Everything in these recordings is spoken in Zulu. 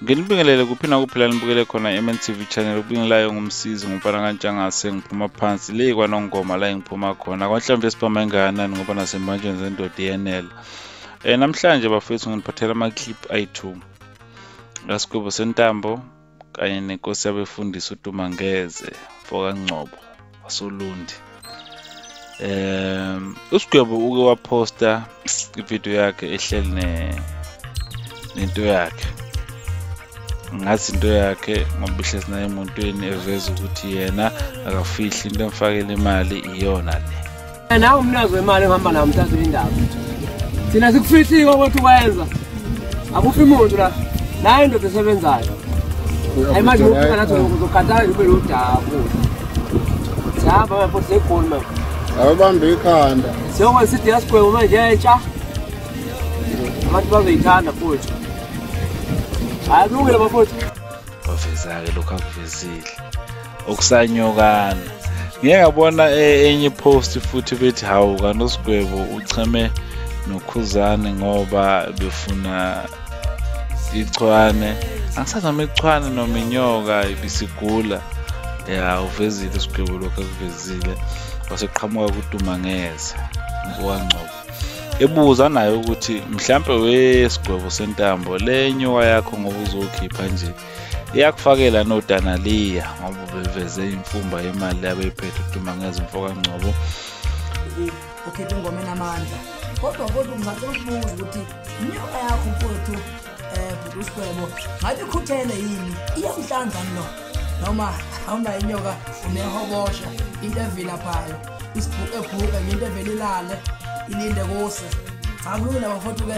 nginibingelele kuphi nakuphi la nibukele khona i-mntv channel ubingelayo ngumsizi ngumfana kantshangase ngiphuma phansi le kwanongoma la engiphuma khona kwanhlawumbe sibhama engakanani ngoba nasembanjweni zendoda iyenela um namhlanje bafethu nginiphathela ama-clip ayi-two ngasigwebo sentambo kanye nenkosi yabefundisi uDumangeze mfokangcobo wasolundi um usigwebo uke waphosta ividiyo yakhe ehleli nento yakhe ngathi into yakhe ngoba ihlezi naye emuntwini eveza ukuthi yena akafihli into emfakela imali iyona le nawe umnazi wemali ohamba nawo mthathe indaba thina sikufihlika ukuthi ukwenza akufi muntu la nayo indoda esebenzayo ayi manje ngokufika nathi uzokhathala nje ube lodaku sihamba manje futhi segoli manje awubambe ikhanda siyokwenza sithi yasigwebo manje entsha abantu bazoyithanda futhi hayi kulungile bafowethu baveza-ke lokhu akuvezile okusanyokana ngike ngabona e, enye post futhi bethi hawu kanosigwebo ucheme nokhuzane ngoba befuna ichwane angisazi noma ichwane noma inyoka ibisigula ya uvezile isigwebo lokhu akuvezile waseqhamuka kutumangeza ngowangcobo ebuza naye ukuthi mhlampe wesigwebo sentambo le nyoka yakho ngoba uzokhipha nje iyakufakela nodanaliya ngoba ubeveze imfumba yemali yabeyiphethe uduma ngezimfo kangcobo ukhethe ingoma enamandla kodwa kodwa ngicela ukubuza ukuthi inyoka yakho mfowethu um bhuti usigwebo ngabe ikhuthele yini iyamhlanzani lo noma hamba inyoka unehobosha into evilaphayo isibhuku ebhuka ngento evelilale ilinde kuse akulula bafowethu ke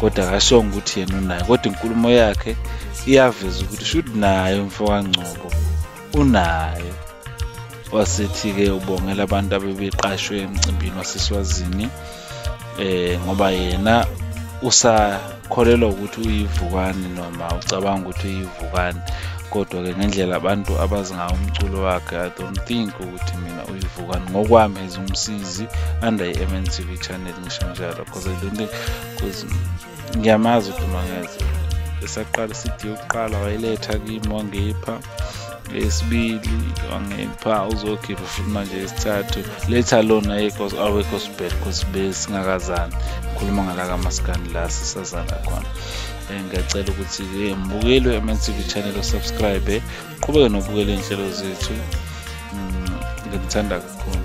kodwa akashongo ukuthi yena unayo kodwa inkulumo yakhe iyaveza ukuthi should nayo mfowangcobo unayo wasethi-ke ubongela abantu abebeqashwe emcimbini waseswazini eh ngoba yena usakholelwa ukuthi uyivukani noma ucabanga ukuthi uyivukani kodwa-ke ngendlela abantu abazi ngawo umculo wakhe i don't think ukuthi mina uyivukani ngokwami as umsizi under i-mntv channel ngisho njalo because I don't think because ngiyamazi uDumangeze esaqala isidi yokuqala wayiletha kimi wangipha esibili wangipha uzokhipha futhi manje esithathu letha lona yekos awekho sibhele cause besingakazani ngikhuluma ngala kamaskani la sisazana khona eh, ngiyacela ukuthi eh, mbukeli we-mntv channel osubscribe qhubeke nokubukela iy'nhlelo zethu mm, ngimthanda kakhulu